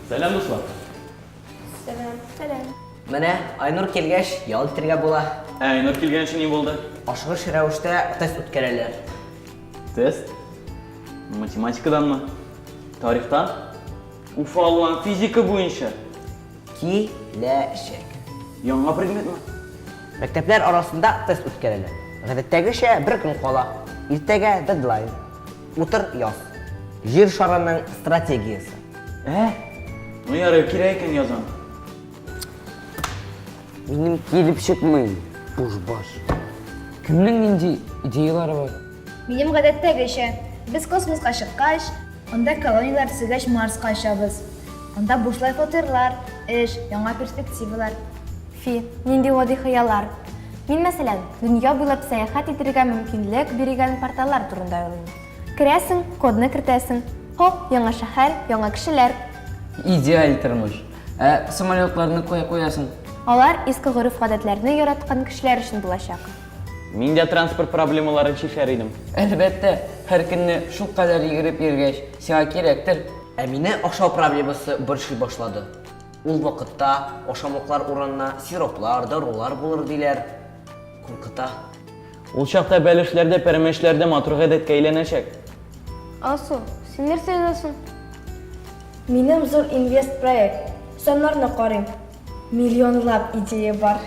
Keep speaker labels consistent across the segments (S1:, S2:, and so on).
S1: Сәлам, дуслар. Сәлам. Сәлам.
S2: Менә Айнур
S3: килгәч, ял итергә була. Ә Айнур килгәнче
S1: ни булды? Ашыгыш рәвештә
S3: тест үткәрәләр. Тест?
S1: Математикаданмы? Тарихтан? Уфа алган физика буенча. Киләчәк.
S3: Яңа предметмы?
S1: Мәктәпләр
S3: арасында тест үткәрелә. Гадәттәгечә бер көн кала. Иртәгә дедлайн. Утыр яз. Җир шарының стратегиясе. Ә?
S1: Ну ярый, кирәк икән язам.
S4: Минем килеп чыкмый, бушбаш. Кемнең нинди идеялары бар? Минем гадәттәгечә.
S2: Без космоска чыккач. Анда колонияләр төзегәч Марска очабыз. Анда бушлай фатирлар, эш, яңа перспективалар. Фи,
S5: нинди гади хыяллар! Мин, мәсәлән, дөнья буйлап сәяхәт итергә мөмкинлек биргән порталлар турында уйлыйм. Керәсең, кодны кертәсең, хоп, яңа шәһәр, яңа кешеләр. Идеаль
S4: тормыш. Ә самолетларны кая куясың? Алар иске
S5: гореф-гадәтләрне яраткан кешеләр өчен булачак. Мин дә
S1: транспорт проблемаларын чишәр идем. Әлбәттә,
S4: һәр көнне шул кадәр йөгереп йөргәч, сиңа кирәктер. Ә мине ашау
S3: проблемасы борчый башлады. Ул вакытта ашамлыклар урынына сироплар, дарулар булыр диләр. Куркыта. Ул
S1: чакта бәлешләр дә, пәрәмәчләр дә матур гадәткә әйләнәчәк. Алсу,
S5: син нәрсә язасың?
S2: Минем зур инвест-проект. Саннарны карыйм. Миллионлап идея бар.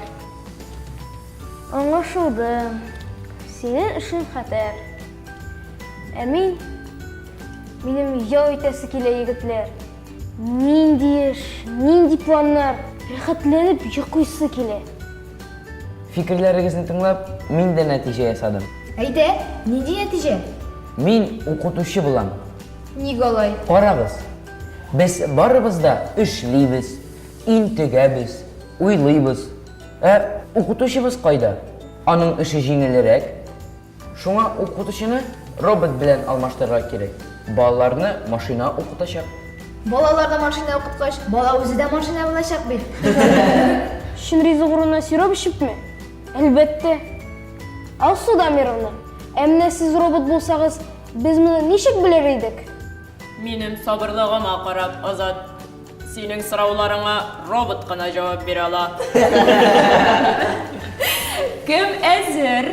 S5: Аңлашылды. Синең эшең хәтәр. Ә мин... Минем ял итәсе килә, егетләр. Нинди эш, нинди планнар. Рәхәтләнеп йоклыйсы килә.
S4: Фикерләрегезне тыңлап, мин дә нәтиҗә ясадым. Әйдә,
S2: нинди нәтиҗә? Мин
S4: укытучы булам. Ник алай?
S2: Карагыз,
S4: без барыбыз да эшлибез, Интегәбез, уйлыйбыз. Ә укытучыбыз кайда? Аның эше җиңелрәк. Шуңа укытучыны робот белән алмаштырырга кирәк. Балаларны машина укытачак. Балаларны
S2: машина укыткач, бала үзе дә машина булачак бит.
S5: Чын ризык урынына сироп эчепме? Әлбәттә. Алсу Дамировна, ә менә сез робот булсагыз, без моны ничек белер идек? Минем
S6: сабырлыгыма карап, Азат. Синең сорауларыңа робот кына җавап бирә ала. Кем әзер?